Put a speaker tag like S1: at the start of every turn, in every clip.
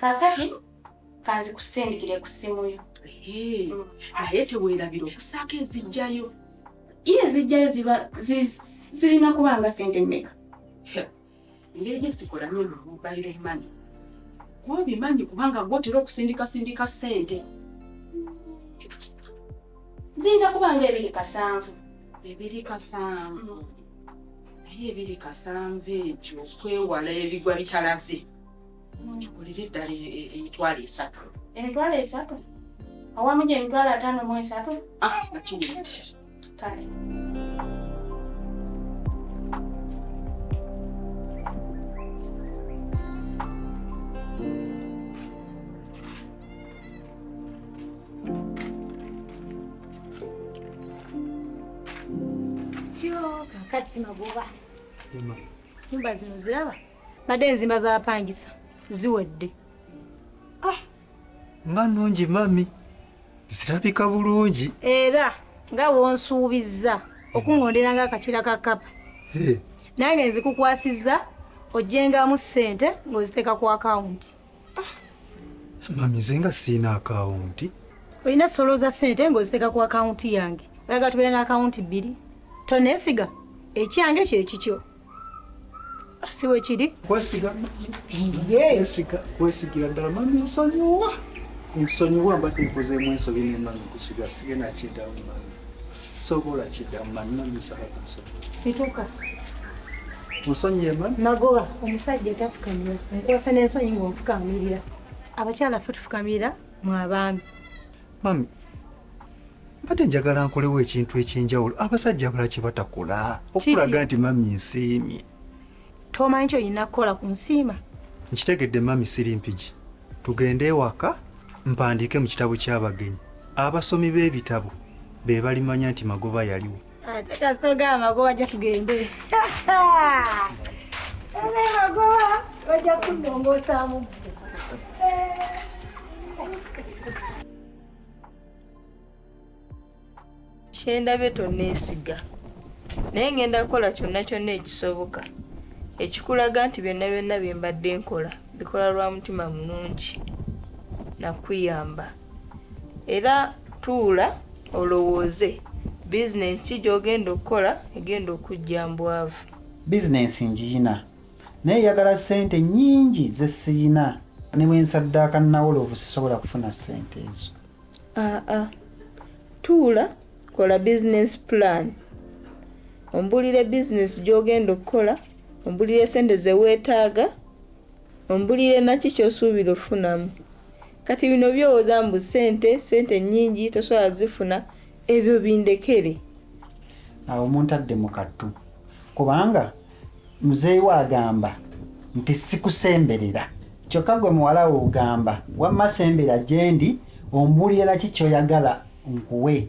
S1: kakati kanzi kusindikire ku ssimu yo mm.
S2: naye teweerabira okusaako ezijjayo ye
S1: ezijjayo ziba zirina kuba nga sente mmeka
S2: engeri gyesikolamye mu mobile money gwobimanyi kubanga gwotera okusindikasindika sente
S1: nzinda kubanga ebiri kasanvu ebiri
S2: kasanvu naye ebiri kasanvu ekyo okwewala ebigwa bitalaze tukulire eddala e, e, emitwalo esatu emitwalo
S1: esatu awamu gyemitwalo ataano mu esatu ah,
S3: Kati magoba nyumba zino ziraba badde enzimba z'abapangisa ziwedde ah,
S4: nga nungi mami zirabika bulungi era
S3: nga wonsuubizza okungondera nga akakira ka kapa nange nzikukwasizza ojjengamu ssente ng'oziteeka ku akawunti
S4: ah, mami nze nga siina akawunti olina solo
S3: za ssente ng'oziteeka ku akawunti yange oyaga tubeera na akawunti bbiri tonesiga ekyange kyekikyo si bwe kiri kwesiga kwesiga
S4: kwesigira ddala mami nsonyiwa nsonyiwa mbadde nkozeemu ensobi ne mami kusiga sigenda kiddamu mami sobola kiddamu mami mami nsaba kunsonyi situka nsonyiye mami magoba omusajja
S3: tafukamira nkwasa n'ensonyi ng'onfukamirira abakyala ffe tufukamira mu abaami mami
S4: mbadde njagala nkolewo ekintu ekyenjawulo abasajja abalaki batakola okulaga nti mami nsiimye tomanyi
S3: kyoyina kukola ku nsiima nkitegedde mami
S4: siri mpigi tugende ewaka mpandiike mu kitabo ky'abagenyi abasomi b'ebitabo be balimanya nti magoba yaliwo ate kasita ogaba
S3: magoba ajja tugende ene
S5: magoba bajja kunongoosaamu kyendabye tonneesiga naye ngenda kukola kyonna kyonna ekisoboka ekikulaga nti byonna byonna bye mbadde nkola bikola lwa mutima mulungi nakuyamba era tuula olowooze bizinensi ki gy'ogenda okukola egenda okujja mbwavu bizinensi
S6: ngiyina naye eyagala ssente nnyingi ze siyina ne bwe nsaddaaka nawoloovu sisobola kufuna ssente ezo aa
S5: tuula kola bizinensi pulaani ombuulire bizinensi gy'ogenda okukola ombuulire ssente ze weetaaga Ombulire naki kyosuubira ofunamu. Kati bino byowoza mbu sente sente nyingi tosobola zifuna ebyo bindekere.
S6: Awo muntadde mu kattu kubanga muzeeyi we agamba nti sikusemberera kyokka gwe muwala we ogamba wamma sembera gyendi ombuulire naki kyoyagala nkuwe.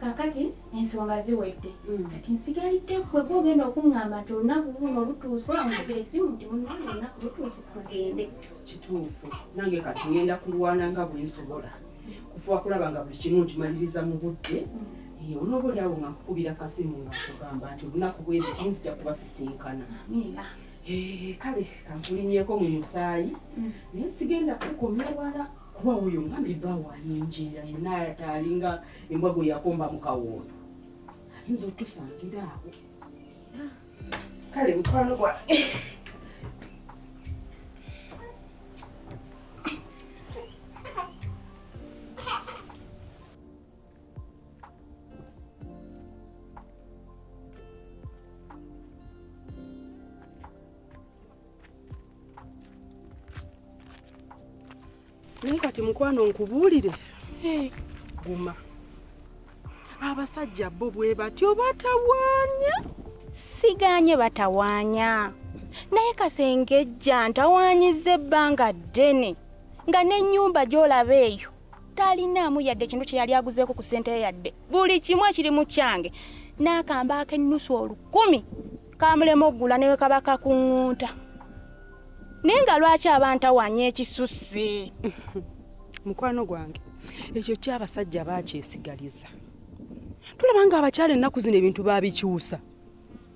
S1: kakati ensonga ziwedde mm. kati nsigalidde kwe kwogenda okuŋŋamba nti olunaku luno lutuuse omukuba esimu nti munange olunaku lutuuse kugende kituufu
S2: nange kati ngenda kulwana nga bwe nsobola kufuba kulaba nga buli kimu nkimaliriza mu budde mm. onoba oli awo nga nkukubira kasimu nga kugamba nti olunaku bwezi kinzija kubasisinkana kale kankulimyeko mu musaayi mm. naye sigenda kukomya wala kuba oyo ngambye ebbaawo ayenjeera yena alinga embwa gwe yakomba mu kawoondo ayinza otusangira awo kale mukwano gwa naye kati mukwano nkubuulire guma abasajja bo bwe batyo batawaanya siganye
S1: batawaanya naye kasengejja ntawaanyiza ebbanga ddene nga n'ennyumba gy'olaba eyo talinaamu yadde ekintu kye yali aguzeeko ku ssente yadde buli kimu ekiri mu kyange n'akamba ak'ennusu olukumi kamulema okugula newe kabaka ku ŋŋunta naye nga lwaki abantawanya ekisusse
S2: mukwano gwange ekyo kyabasajja bakyesigaliza tulaba nga abakyala ennaku zino ebintu babikyusa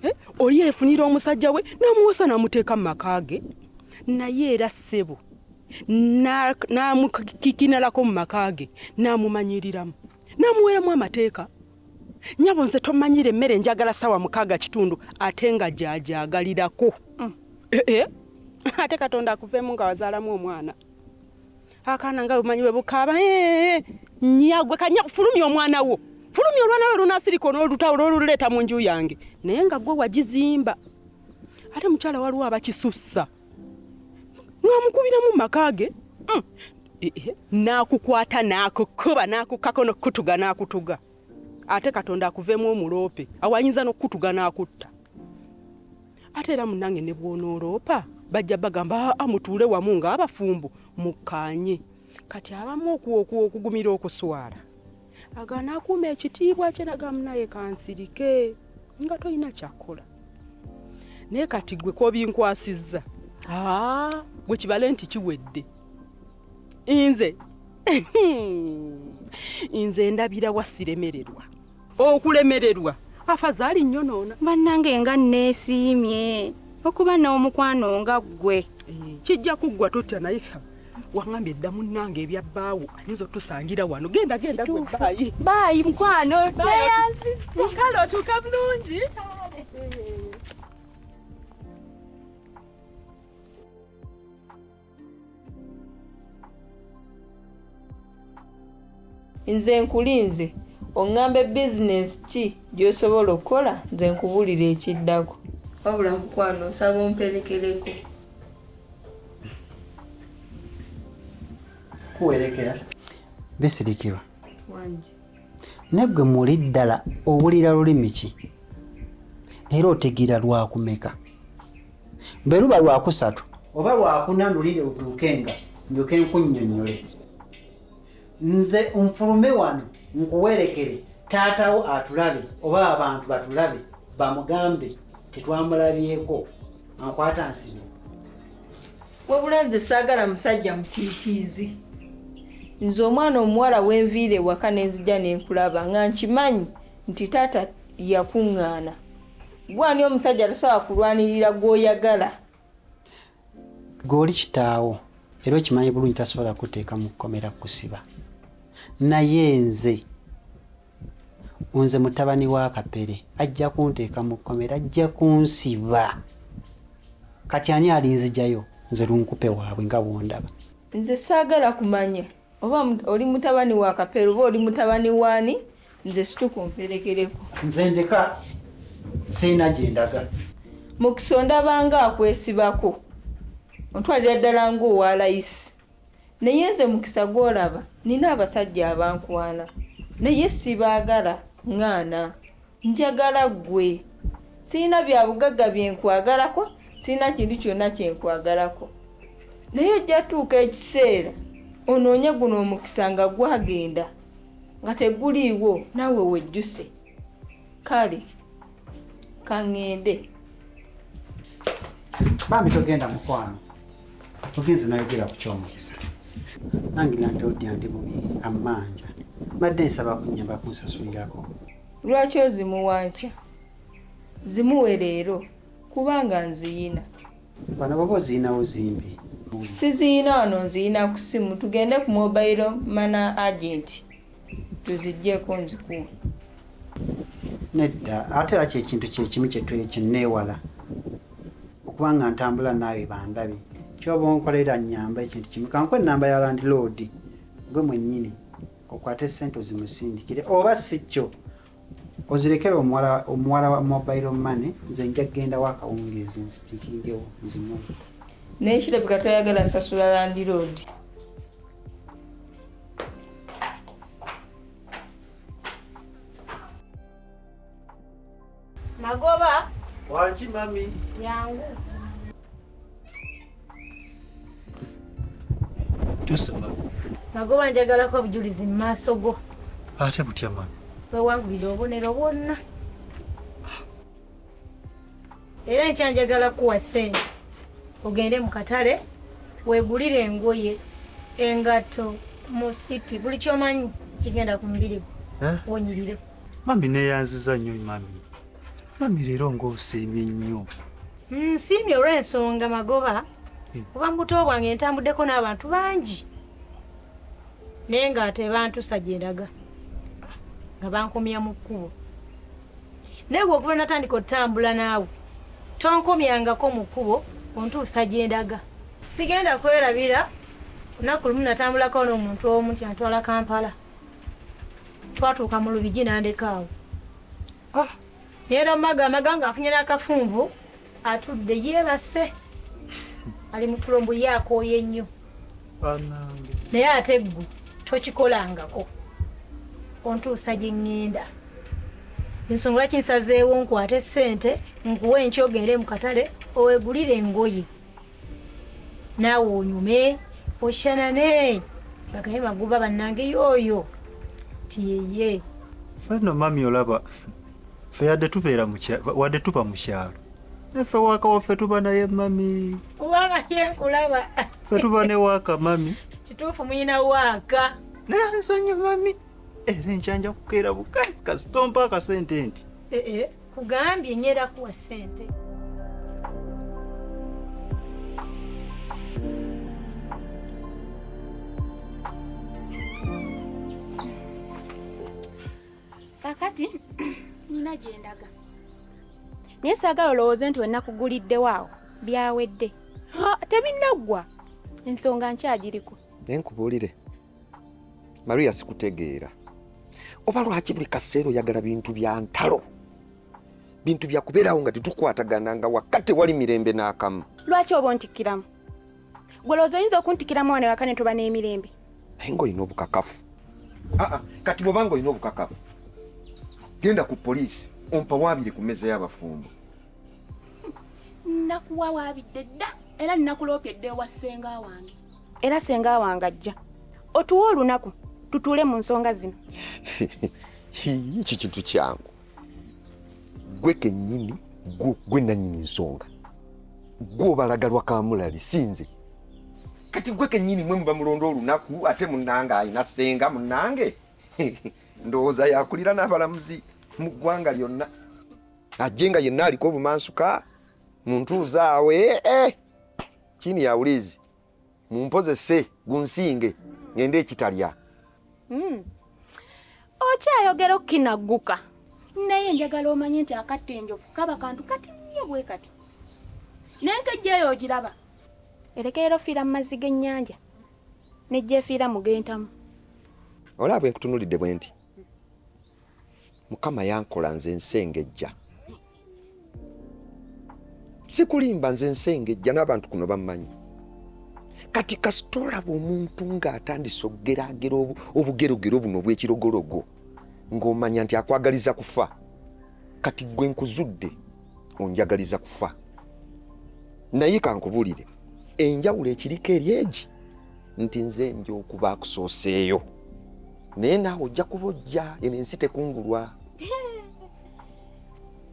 S2: eh, oli efunira omusajja we namuwosa namuteeka mu maka ge naye era ssebo namukikinalako mu maka ge namumanyiriramu namuweramu amateeka nyabo nze tomanyira emmere njagala sawa mukaaga kitundu ate nga gyagyagalirako mm. eh, eh. ate katonda akuveemu nga wazaalamu omwana akaana nga bumanyi bwe bukaaba eh, nyagwe kanya fulumya omwana wo fulumya olwana lwe lunasirika onolutawo lwoluleeta mu nju yange naye nga gwe wagizimba ate mukyala waliwo abakisussa ng'amukubiramu mu maka ge mm. n'akukwata n'akukuba n'akukako n'okukutuga n'akutuga ate katonda akuveemu omuloope awayinza n'okukutuga n'akutta ate era munange ne bwonooloopa bajja bagamba aa ah, ah, mutuule wamu ng'abafumbo mukkaanye kati abamu okugumira okuswala agana akuuma ekitiibwa kye nagamu naye kansirike nga tolina kyakukola naye kati gwe kobinkwasizza ah, gwe kibale nti kiwedde nze nze ndabira wasiremererwa okulemererwa afazaali nnyo noona bannange nga
S1: nneesiimye okuba n'omukwano nga ggwe eh, kijja kuggwa
S2: totya naye wangambye dda munnange ebya bbaawo ayinza otusangira wano genda genda baayi baayi mukwano kale otuuka bulungi
S5: nze nkulinze oŋŋambe bizinensi ki gy'osobola okukola nze nkubuulire ekiddako wabula mukwano nsaba omperekereko
S6: kuwerekera bisirikirwa wangi
S5: Naggwe
S6: muli ddala owulira lulimi ki era otegeera lwakumeka? Bwe luba lwakusatu oba lwakuna ndulire utuuke nga ndyoke nkunnyonnyole. Nze nfulume wano nkuwerekere taatawo atulabe oba abantu batulabe bamugambe tetwamulabyeko ankwata nsibe.
S5: wabula nze saagala musajja mutiitiizi nze omwana omuwala wenviira ewaka nenzija nenkulaba nga nkimanyi nti taata yakuŋŋaana gwani omusajja tasobola kulwanirira gwoyagala
S6: gweoli kitaawo era okimanyi bulungi tasobola kuteeka mu kkomera kusiba naye nze nze mutabani wa kapere ajja kunteeka mu kkomera ajja kunsiba kati ani alinzijayo nze lunkupe waabwe nga bwondaba nze saagala
S5: kumanya oba oli mutabani wa kapere oba oli mutabani waani nze situka omperekereko nze ndeka
S6: siina gye ndaga mukisa
S5: ondabanga akwesibako ontwalira ddala ng'owa layisi Naye nze mukisa gwolaba nina abasajja abankwana naye sibagala ngana njagala gwe sirina byabugaga byenkwagalako sirina kintu kyona kyenkwagalako naye ojja tuuka ekiseera onoonye guno omukisa nga gwagenda nga teguliiwo naawe wejjuse kale kaŋŋende
S6: bambi togenda mukwano ogenze nayogera ku kyomukisa nange nange odya ndi bubi ammanja mbadde nsaba kunyamba kunsasulirako lwaki
S5: ozimuwankya zimuwe leero kubanga nziyina bano baba
S6: oziyinawo zimbi siziyina
S5: wano nziyina ku simu tugende ku mobile mana agenti tuzijjeko nzikuwa nedda
S6: ate era kyekintu kyekimu kyeneewala okuba nga ntambula naawe bandabi kyoba onkolera nyamba ekintu kimu kanku enamba ya landiloodi gwe mwennyini okwate sente ozimusindikire oba si kyo Ozirekere omuwala omuwala wa mobile money nze nja kugenda wa kawungeezi nzipikingewo
S5: nzimuwe.
S6: Naye
S5: kirabika toyagala sasula landiroodi.
S1: Magoba. Wanki
S4: mami. Yangu. nagoba
S3: njagalako obujulizi mu maaso go ate butya
S4: mami wewangulira obubonero
S3: bwonna era nkyanjagala kuwa sente ogende mu katale wegulire engoye engatto musipi buli kyomanyi kigenda ku mubiri gwo eh? wonyirire mami neyanziza
S4: nnyo mami mami leero ng'osiimye nnyo nsiimye
S3: olw'ensonga magoba hmm. kuba mu buto bwange ntambuddeko n'abantu bangi naye nga tebantusa gye ndaga nga bankomya mu kkubo naye gwe okuba natandika otutambula naawe tonkomyangako mu kkubo ontuusa gye ndaga sigenda kwerabira lunaku lumu natambulako n'omuntu omu nti antwala kampala twatuuka mu lubigi nandekaawo Ah. Yero maga maganga afunye nakafunvu atudde yebase ali mutulombo yako yenyo banange naye ate ggu tokikolangako ontuusa gye ŋŋenda ensonga lwaki nsazeewo nkwate ssente nkuwe enkyogende mu katale owegulire engoye naawe onyume oshanane bagaye maguba bannange yooyo tiyeye fenno mami
S4: olaba fe yadde tubeera wadde tuba mu kyalo neffe waaka waffe tuba naye mami obanga
S3: yekulaba fe tuba ne
S4: waaka mami kituufu muyina
S3: waaka naye nsonyi
S4: mami era enkyanja kukeera bukazi kasitoompa akasente nti eh, eh. kugambye
S3: nyera kuwa sente
S1: kakati nina gyendaga naye saagala olowooze nti wenakuguliddewo awo byawedde tebinaggwa ensonga nkyagiriko naye nkubuulire
S7: Maria sikutegeera oba lwaki buli kaseera oyagala bintu bya ntalo bintu bya kubeerawo nga tetukwatagana nga wakka tewali mirembe n'akamu lwaki oba ontikkiramu
S1: gwe lowooza oyinza okuntikkiramu wano ewaka ne tuba n'emirembe naye ng'olina
S7: obukakafu aa ah, ah, kati bwoba ng'olina obukakafu genda ku poliisi ompa waabire ku mmeeza y'abafumbo
S1: nnakuwa waabidde dda era nnakuloopye dda ewa ssenga wange era senga wange ajja otuwa olunaku tutuule mu nsonga zino
S7: eki kintu kyangu gwe kenyini gwe nanyini nsonga gwe obalagalwa kamulali sinze kati gwe kenyini mwe muba mulonda olunaku ate munange alina senga munange ndowooza yakulira n'abalamuzi mu ggwanga lyonna ajje nga yenna aliko obumansuka muntuuzaawe eh, eh. chini ya ulizi mumpozese gunsinge ngende ekitalya mm.
S1: okyayogera okukinagguka naye njagala omanye nti akatta enjovu kaba kantu kati nnyo bwe kati nenkejja eyo ogiraba erekeera ofiira mu mazzi g'ennyanja nejja efiira mu gentamu olaba
S7: bwe nkutunulidde bwe nti mukama yankola nze nsengejja sikulimba nze nsengejja n'abantu kuno bammanyi kati kasita olaba omuntu ng'atandise okugeragera obugerogero buno obw'ekirogologo ng'omanya nti akwagaliza kufa kati gwe nkuzudde onjagaliza kufa naye kankubulire enjawulo ekiriko eri egi nti nze nja okuba akusooseeyo naye naawe ojja kuba ojja eno ensi tekungulwa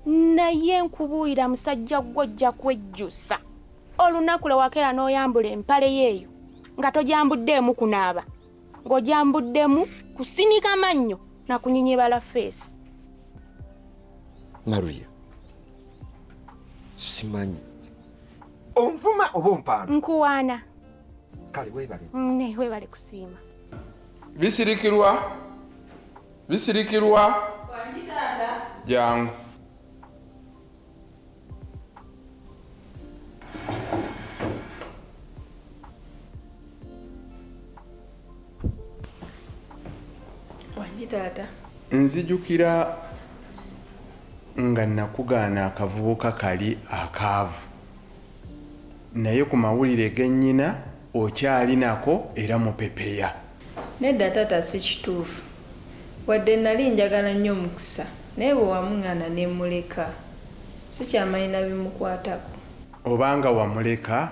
S1: naye nkubuulira musajja gwo ojja kwejjusa olunaku lwe wakeera n'oyambula empale yeeyo nga tojambuddeemu kunaaba ng'ojambuddemu kusinika mannyo na kunyinyebala feesi
S7: maria simanyi onvuma oba ompaana nkuwaana
S1: kale
S7: webale mm, ne webale kusiima
S8: bisirikirwa bisirikirwa jangu
S5: wangi taata nzijukira
S8: nga nakugaana akavubuka kali akaavu Naye ku mawulire ge nnyina okyali nako era mupepeya. Nedda
S5: taata si kituufu. Wadde nnali njagala nnyo Mukisa naye bwe wamung'aana ne mmuleka sikyamanyi na bimukwatako. Obanga
S8: wamuleka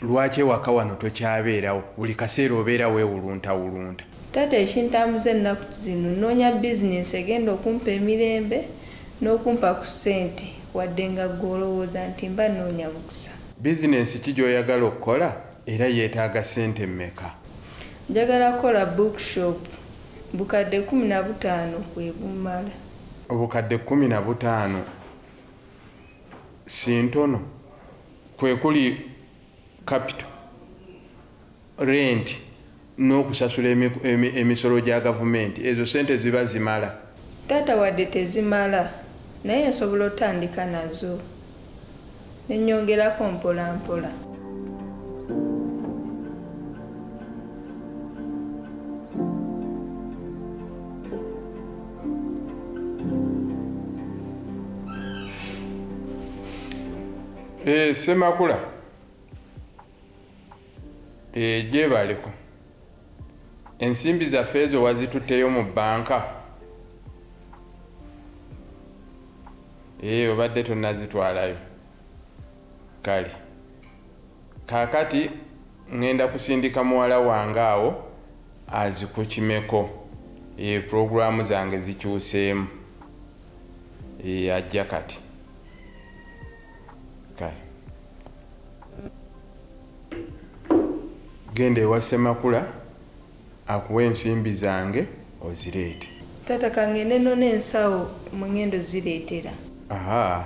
S8: lwaki ewaka wano tokyabeerawo buli kaseera obeera weewuluntawulunta. Taata
S5: ekintambuza ennaku zino nnoonya bizinensi egenda okumpa emirembe n'okumpa ku ssente wadde nga ggwe olowooza nti mba nnoonya mukisa. Bizinensi ki
S8: gy'oyagala okukola era yeetaaga ssente mmeka? Njagala
S5: kukola book shop. Bukadde kkumi na butaano bwe bummala. Obukadde
S8: kkumi na butaano si ntono? Kwe kuli. kapito, renti n'okusasula emisolo gya gavumenti ezo ssente ziba zimala? Taata, Wadde
S5: tezimala naye nsobola otandika nazo ne nnyongerako mpolampola.
S8: Eh, Semakula eh, gyebaleko ensimbi zaffe ezo wazitutteyo mu bbanka eh, obadde tonazitwalayo kale kakati ŋŋenda kusindika muwala wange awo azikukimeko pulogulaamu zange zikyuseemu Eeh ajja kati kale. Genda ewa Ssemakula akuwe ensimbi zange ozireete. Taata kangende
S5: none ensawo mwe ngenda ozireetera. Ahaa.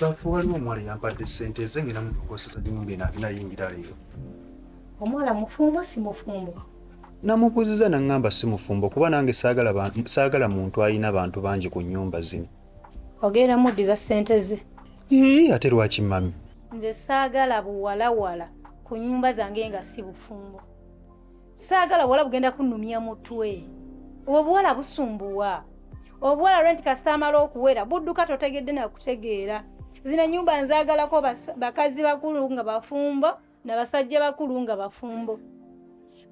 S3: Baffe
S4: waliwo omuwala yampadde ssente ze ngenda mutugosesa nyumba eno agenda yingira leero. Omuwala
S3: mufumbo si mufumbo? Namubuuziza
S4: nangamba si mufumbo kuba nange saagala muntu alina bantu bangi ku nyumba zino. Ogenda
S3: muddiza ssente ze? Ii ate
S4: lwaki mami? Nze saagala
S3: buwalawala ku nyumba zange nga si bufumbo. saagala buwala bugenda kunnumya mutwe obwo buwala busumbuwa obuwala lwe nti kasita amala okuwera budduka totegedde nakutegeera zino enyumba nzagalako bakazi bakulu nga bafumbo nabasajja bakulu nga bafumbo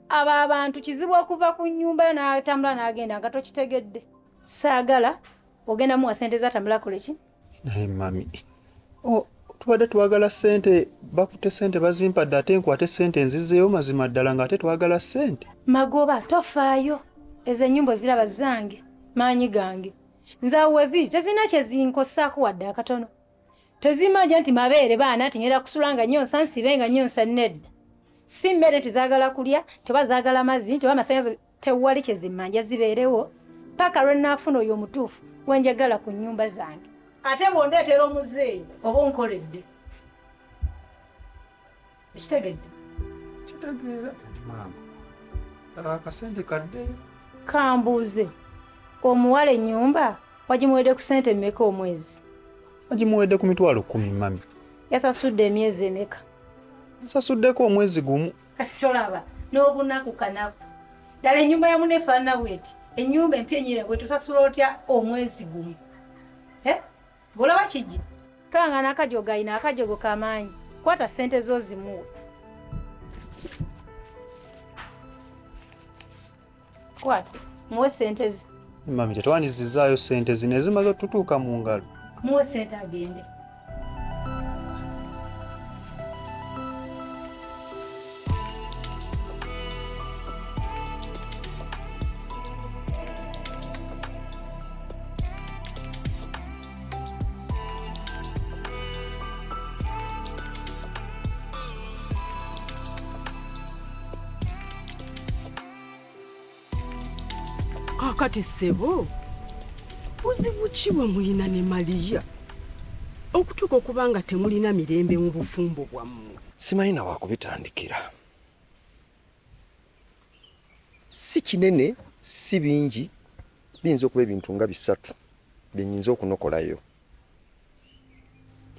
S3: abo abantu kizibu okuva ku nyumba yo natambula nagenda nga tokitegedde saagala ogenda muwa sente zatambula koleki naye mami
S4: oh, tubadde twagala sente bakute sente bazimpadde ate nkwate sente nzizeewo mazima ddala nga ate twagala sente magoba
S3: tofaayo ezo enyumba oziraba zange maanyi gange nze awo weziri tezirina kyezinkosaako wadde akatono tezimanja nti mabeere baana ti ngenda kusula nga nyonsa nsibe nga nyonsa nedda si mmere tizagala kulya teba zagala mazzi nti oba amasanyalaze tewali kyezimanja zibeerewo paka lwe naafuna oyo omutuufu gwe njagala ku nnyumba zange ate bwondeetera omuzeeyi oba onkoledde ekitegedde
S4: kitegeera maama akasente kadde kambuuze
S3: omuwala ennyumba wagimuwedde ku sente mmeka omwezi wagimuwedde
S4: ku mitwalo kumi mami yasasudde
S3: emyezi emeka nsasuddeko
S4: omwezi gumu kati tolaba
S3: n'obunaku kanaku ddala ennyumba ya mune efaanana bweti ennyumba empyenyire bwe tusasula otya omwezi gumu eh? olaba kijja kanga n'akajogo ayina akajogo kamaanyi kwata ssente zo zimuwe Kwati, muwe sente ze. Mami, tetwandizizaayo
S4: sente zino ezimaze otutuuka mu ngalo. Muwe sente
S3: agende.
S2: kati sebo buzibu ki bwe mulina ne maliya okutuuka okuba nga temulina mirembe mu bufumbo bwammwe simanyi na
S7: wakubitandikira si kinene si bingi biyinza okuba ebintu nga bisatu byenyinza okunokolayo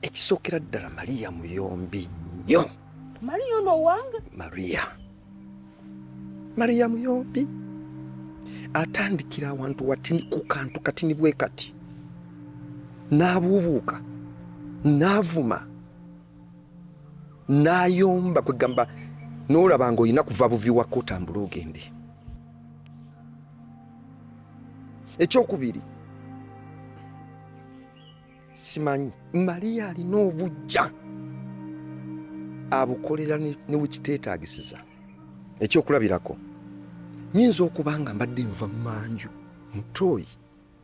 S7: ekisookera ddala mariya muyombi nnyo mariya ono owange
S2: mariya
S7: mariya muyombi atandikira awantu watini ku kantu katini bwe kati n'abuubuuka n'avuma n'ayomba kwegamba n'olaba nga olina kuva buvi wakka otambule ogende ekyokubiri simanyi mariya alina obujja abukolera ne wekiteetagisiza ekyokulabirako nyinza okuba nga mbadde nva mu manju mutooyi